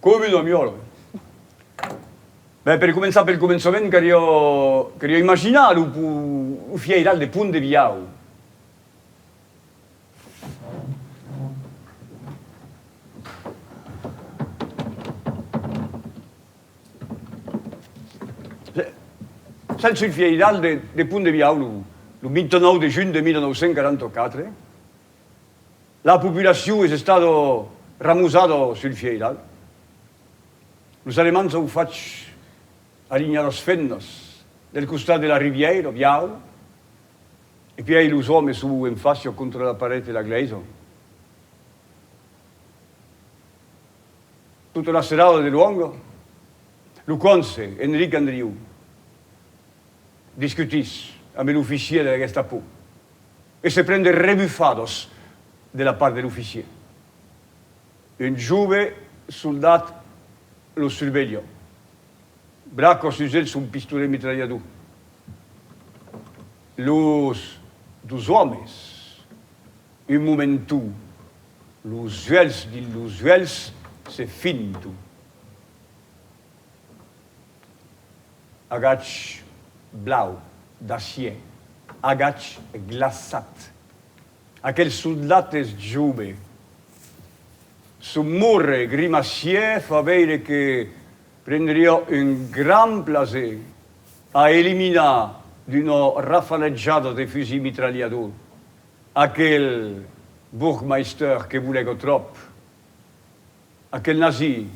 Coma una miòla. Ben, per començar pel començament, carió, carió imaginar lo fièiral de Pont de Viau. Sètz sul fièiral de Pont de Viau lo 29 de junh de 1944. La populacion es estado ramosado sul vieiral. Los Alemands au fach alinhar las fennas del costat de la rivièira viau e pièi los òmes su en facia contra la paret de la glèisa. Tota la serada de luònga, lo conse Enric Andriu discutís ambe l'oficier de la Gestapo. E se pren de rebufados de la part de l'oficier. Un jove soldat lo survelha. Braca sus el son pistolet mitralhador. Los dos òmes, un momentu, los uèlhs dins los uèlhs, se finton. Agach blau, d'acier, agach glaçat. Aquel soldat es jove. Son morre grimacièr fa veire que prendriá un grand plaser a eliminar d'una rafalejada de fusil mitralhador aquel burgmeister que volèc o tròp. Aquel nazi,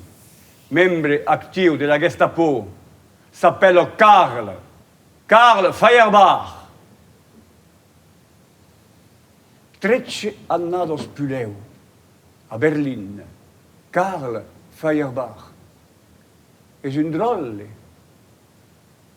membre actiu de la Gestapo, s'apèla Karl, Karl Feuerbach! Trètze annadas pulèu, a Berlin, Karl Feuerbach es un dròlle.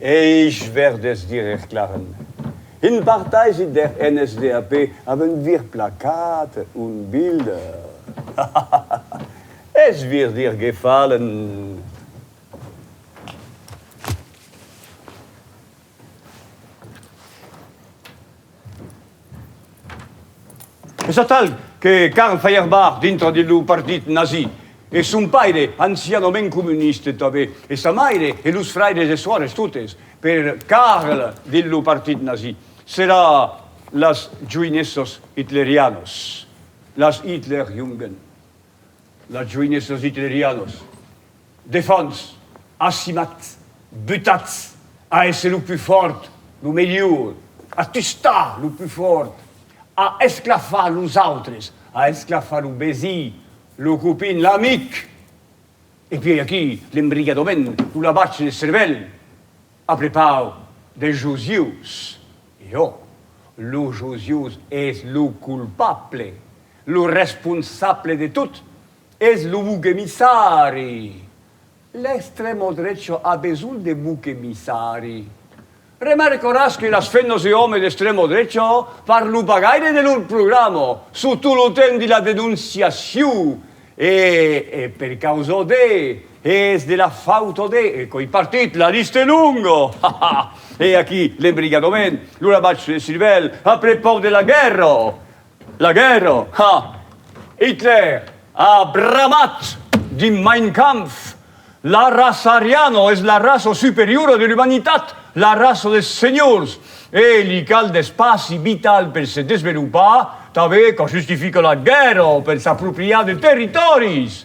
Eis Verdes dires Claren. Un partaisi der NSDAP avent vir placat un bild. Es vir dir gefallen. Es atal que Karl Feuerbach dintre de lo partit nazi, e son paire, ancianament comuniste tanben, e sa maire e los fraires e soires, totes per Karl dins lo partit nazi, serà las joinesses hitlerianas, las Hitlerjungen, las joinesses hitlerianas. Defons, Assimat, butatz a èsser lo pus fòrt, lo melhor, a tustar lo pus fòrt, a esclafar los autres, a esclafar lo vesí, lo copin, l'amic. E puèi aquí, l'embrigadament, lo lavatge de cervèl, a prepau de josius. E ò, lo josius es lo culpable, lo responsable de tot, Es lo buc emissari! L'extremo drecho a besonh de buc emissari. Remarcoràs que las femnas e òmes d'extremo drecho parlon pas gaire de lor programa, subtot lo temps de la denonciacion, e e per causa de, e es de la fauta de, e coi partit, la lista es longa! Ha ha! E aquí l'embrigadament, lo rabatge de cirvèl, après pauc de la guèrra! La guèrra, ha! Hitler a bramat dins Mein Kampf, La raça ariana es la raça superiora de l'umanitat, la raça des senhors, e li cal d'espaci vital per se desvelopar, tanben qu'a justificat la guèrra per s'apropriar de territòris!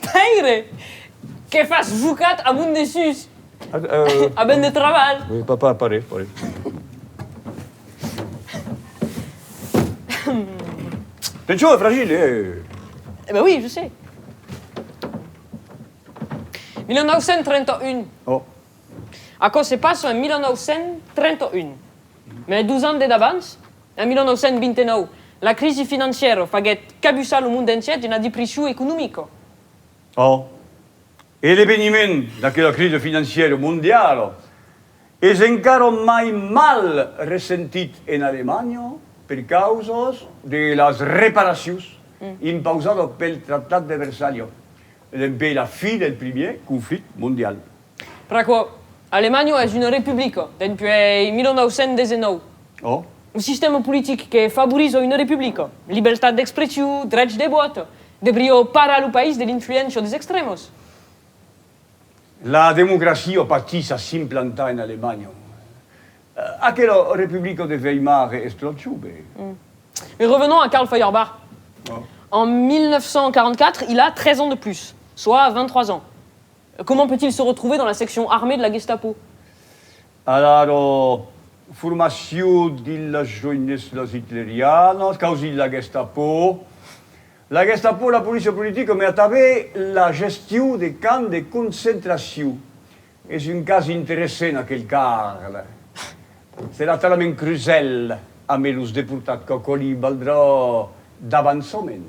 Pèire! Que fas jocat a mon desús? A ben de trabalh! Oui, papa, pari, pari. Penchon est fragile, eh! Eh ben oui, je sais. 1931. Oh. Aquò se passa en 1931. Mes dus ans de davans, En 1929, la crisi financièra faguèt cabussar lo mond entièr d'una depression economica. Ò, e l'eveniment d'aquela crisi financièra mondiala es encara mai mal ressentit en Alemanha per causa de las reparacions impausadas pel Tractat de Versalha dempè la fi del primièr conflicte mondial. Pr'aquò, Alemanha es una republica dempuèi 1919. Ò. Un sistèma politic que favoriza una republica, libertat d'expressiu, drech de vòt, debrió parar lo país de l'influéncia des extrèmas. La democracia patís a s'implantar en Alemanha. Aquela republica de Weimar e Strozhube. Mai revenons a Karl Feuerbach. En 1944, il a 13 ans de plus, soa 23 ans. Comment peut-il se retrouver dans la section armée de la Gestapo? Alara, formacion dillas joineslas hitlerianas, causi la Gestapo. La Gestapo, la policia politica, me atabèt la gestion de camps de concentracion. Es un cas interessent aquel car serà talament crusèl amé los deportats qu'aquò li valdrà d'avançament.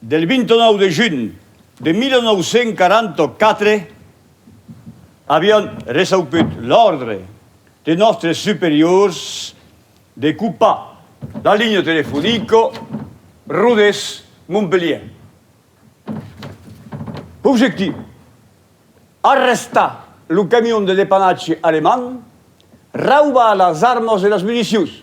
Del 29 de junh de 1944 avián reçauput l'òrdre de nòstres superiors de copar la linha telefonica Rodés-Montpelhièr. Objectiu, arrestar lo camion de depannatge alemand, raubar las armas e las municions.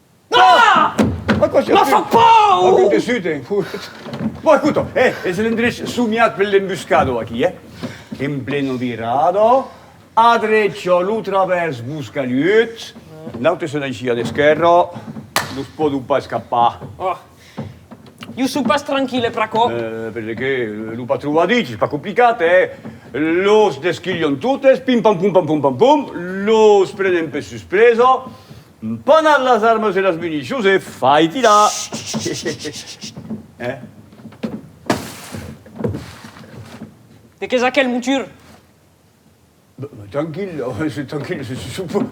Ah! Aquò se passa pauc! Aquò te suten, fout! Bon, escota, eh, es l'endrech somiat per l'embuscador, aquí, eh? En pleno virado, a drecha lo travèrs Boscalhut, l'aute se n'aisí a l'esquèrra, no se pòdon pas escapar. Oh! Jo soi pas tranquil, e pr'aquò? Eh, perqué? Lo patró o a dich, es pas complicat, eh? Los desquilhon totes, pim-pam-pum-pam-pum-pam-pum, los prenen per suspresa, Mpanat las armas e las municions e faiti la! Hehehehe. De qu'es aquel mutur? Tranquil, tranquil,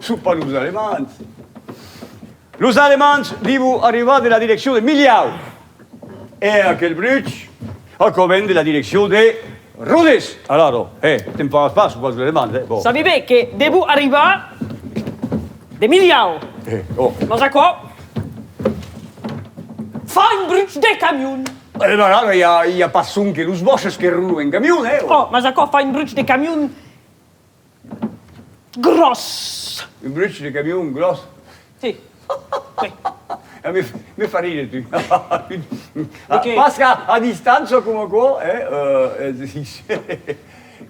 son pas los Alemands. Los Alemands vivo arribar de la direccion de Milhau. E aquel bruch a coment de la direccion de Rodes! Alaro, hè, te'n fagas pas, o pas lo deman, hè, bon. Sabi be que devo arribar de Milhau. Hè, oh. Mas aquò fa un bruch de camion! E ben ara, i a, i a pas sonque los bòches que rolan en camion, hè, oh. Oh, mas aquò fa un bruch de camion! Gròs! Un bruch de camion gròs? Sí. Oui. Me fa rire tu. Pas qu'a a distància coma aquò, eh?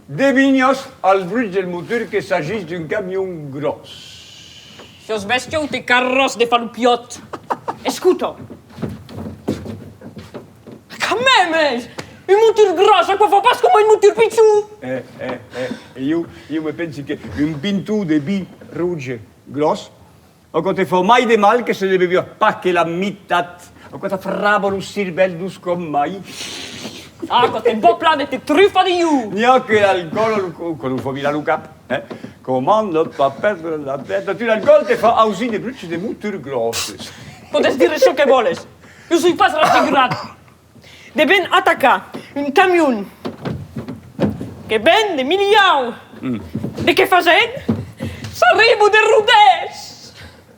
Devinhas al bruch del motor que s'agís d'un camion gròs. Sos bestiaute carròs de falupiòt. Escuta! Quand même, es! Un motor gros, aquò fa pas coma un motor pichon! Eh, eh, eh, e ieu, ieu me pensi que un pintou de vi rouge gros, aquò te fa mai de mal que se ne beviá pas que la mitat, aquò t'afrava lo cirvèl dous com mai. Ah, aquò te bò plan de te trufar de ieu! N'i a que l'alcòl, quand lo fa virar lo cap, eh? Comment ne pas perdre la tête? Tu l'alcòl te fa ausir de bruches de motor grosses. Podes dire çò que vòles. Jo soi pas rafigurat de ben atacar un camion que ven de Milhau de que fasèm s'arribo de Rodés!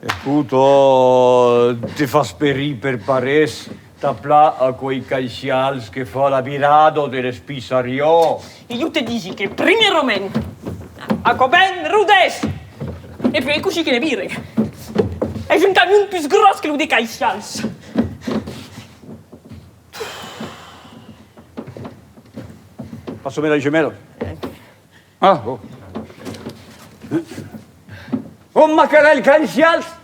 Escota, te fas perir per parés, t'apla aquoi caicials que fa la virada de l'Espissarion. Iu te disi que primièrament aquò ben rudés e puèi cossí que ne vire es un camion pus gròs que lo de Caisshans. Passa'me la gemèla. Ah, bon. Bon macarèl Caisshans,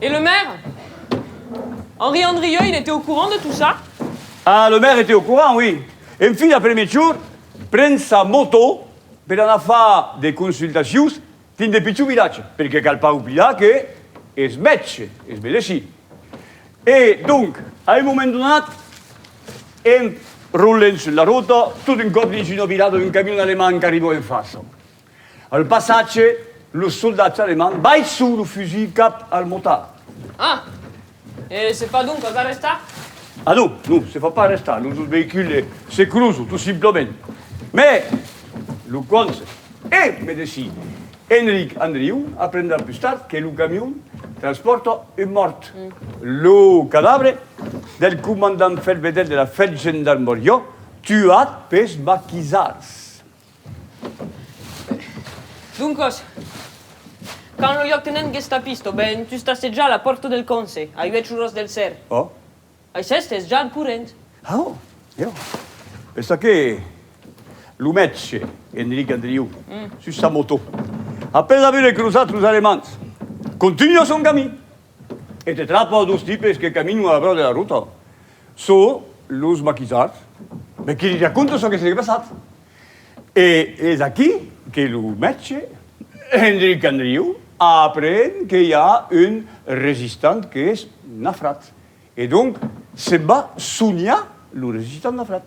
Et le maire? Henri Andrieux, il était au courant de tout ça? Ah, le maire était au courant, oui. En fin d'après-mejor, pren sa moto per anar far de consultacions dins de pichons vilatges, perque cal pas oblidar que es mètge, es medecin. E donc, a un moment donat, en roulent sus la rota, tot un còp dins una virada un camion alemand qu'arriba en fasa. Al passatge, los soldats alemands baisson lo fusil cap al motard. Ah! E se fa doncas arrestar? Ah non, non, se fa pas arrestar, lo jos veïcul es securus, tot simplament. Mai lo conse. E me desi, Enric Andriu aprendrà pus tard que lo camion transpòrta un mòrt, lo cadabre del comandant Fèlvedèr de la Fèlgendarmoriá, tuat pes maquisards. Doncas, quand lo lieutenant gestapisto o ben tustasse ja la pòrta del conse, a uèch oras del ser. Oh. Ai s'èstes ja al corrent. Oh, jo. Pensa que lo mètge, Enric Andriu, sus sa motò, après avure que los autros Alemands, contunha son camin. E te trapa dos tipes que caminon a la beura de la rota. Çò los maquisards. Be que li raconta çò que se l'é passat. E es aquí que lo mètge, Endric Andriu, apren que i a un resistant que es nafrat. E donc se'n va soniar lo resistant nafrat.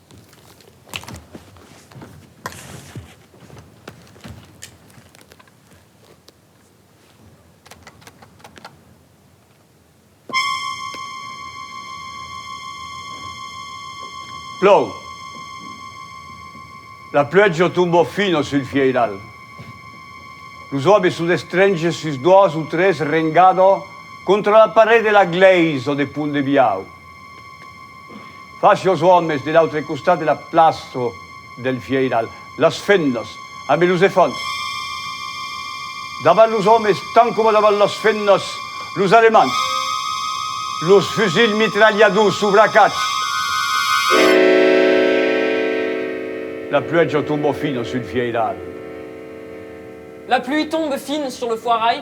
Plòu. La pluèja tomba fina sul vieiral. Los òmes son estrenches sus doas o tres rengada contra la paret de la glèisa de Pont de Biau. Fach los òmes de l'autre costat de la plaça del Vieiral, las femnas ambe los efants. Davant los òmes tant coma davant las femnas, los alemands, los fusils mitralhadors subracats. La pluèja tomba fina sul Vieiral. La pluie tombe fin sur le foirai.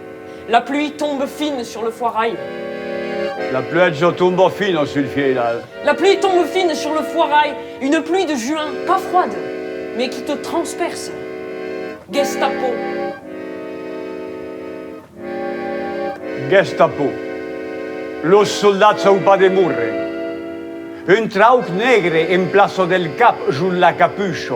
La pluie tombe fine sur le foirail. La pluèja tomba fina sul fièlal. La pluie tombe fine sur le foirail, une pluie de juin pas froide mais qui te transperce. Gestapo. Gestapo. Los soldats au pas de mouren. Un trauc negre en plaça del cap jos la capucha.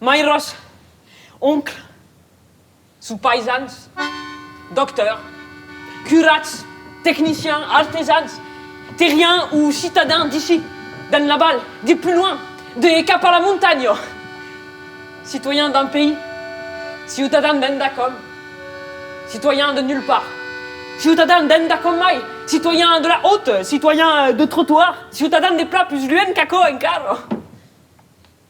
Mai Rosa, oncle, sou paisans, docteurs, curats, techniciens, artesans, terriens ou citadins d'ici, d'en l'aval, de plus loin, de cap a la montanha, citoyens d'un pays, ciutadans d'endacòm, citoyens de nulle part, ciutadans d'endacòm mai, citoyens de la haute, citoyens de trottoir, ciutadans de plan plus luènh qu'aquò encara.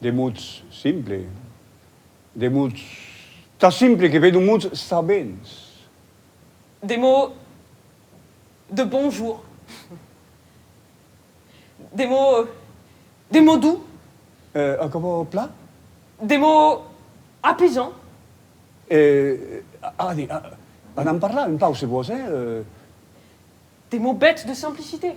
De mots simple, de mots tan simple que vedon mots sabents. De mots de bonjour, de mots, de mots doux. Eh, aquò plan? De mots apaisants. Eh, allez, anam parlar un pauc se vòs, eh? De mots bèths de simplicité.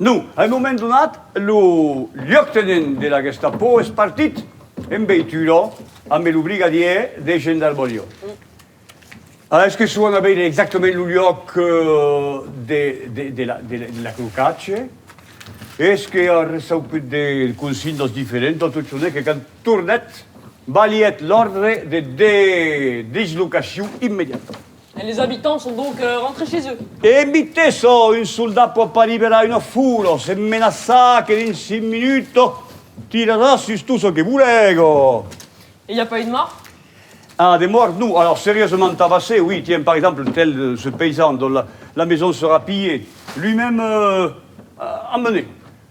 Non, a un moment donat, lo lieutenant de la Gestapo es partit en veitura ambe lo brigadier de gendarmoria. A es que suan a veire exactament lo luòc de l'acrocatge, es que a ressauput de consignas diferentas, tot çò que quand tornèt, balhèt l'òrdre de dislocacion immediata. Les abitants son donc rentrés chez eux. E mitte çò, un soldat pòt pas liberar una foula, se menaçar que dins cinc minuts tirarà sus tot çò que volèga. E i a pas eu de mòrt? Ah, de mòrt non. Alors, seriosament tabassé, oui, tiens, par exemple, tel ce paysan dont la maison sera pillée, lui-même emmené.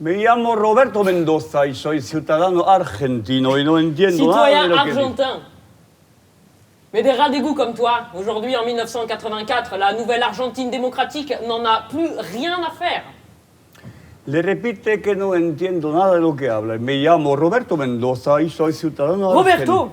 Me llamo Roberto Mendoza y soy ciutadano argentino y no entiendo nada de lo que dice. Citoyen argentin. Mais des rats d'égout comme toi, aujourd'hui en 1984, la nouvelle Argentine démocratique n'en a plus rien à faire. Le repite que no entiendo nada de lo que habla. Me llamo Roberto Mendoza y soy ciutadano argentino. Roberto!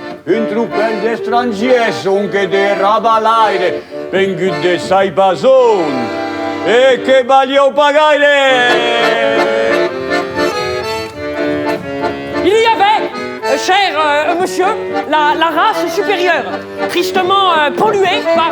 Un tropèl d'estrangièrs sonque de rabalaire, vengut de Saibazon, e que valieu pas gaire! Il y avait, cher monsieur, la race supérieure, tristement polluée par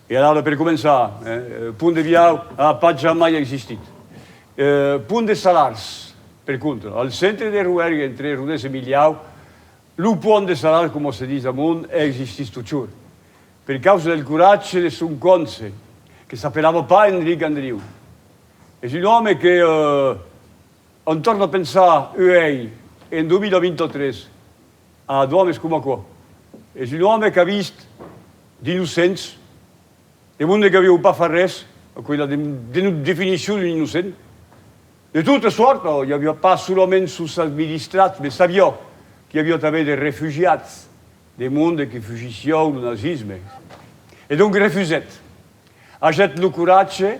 E alara, per començar, Pont de Viau a pas jamai existit. Pont de Salars, per contra, al centre de Roergue, entre Rodés e Milhau, lo Pont de Salars, coma se ditz amont, existís totjorn, per causa del coratge de son conse, que s'apelava pas Enric Andriu. Es un òme que, en torna pensar uèi, en 2023, A Adam es coma aquò. Es un òme qu'a vist d'innocents. De mon de qu'avieu pas far res. Aquò es la definicion d'un innocent. De tota sòrt, i aviá pas solament sos administrats, me sabiá qu'i aviá tanben de refugiats, de mon de que fugissiáu lo nazisme. E donc refusèt. Agèt lo coratge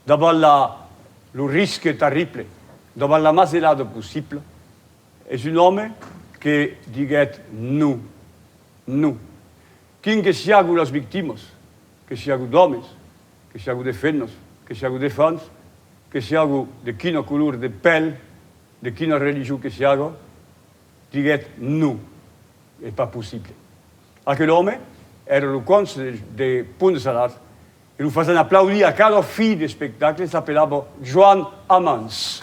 davant lo risque tarrible, davant la mazelada possibla. Es un òme que diguèt non, non. Quin que siágu las victimas, que siágu d'òmes, que siágu de femnas, que siágu de fans, que siágu de quina color de pèl, de quina religion que siága, diguèt non, es pas possible. Aquel òme èra lo conse de Pont-de-Sadart E lo fasen aplaudir a cada fi d'espectacle, s'apelava Joan Amans.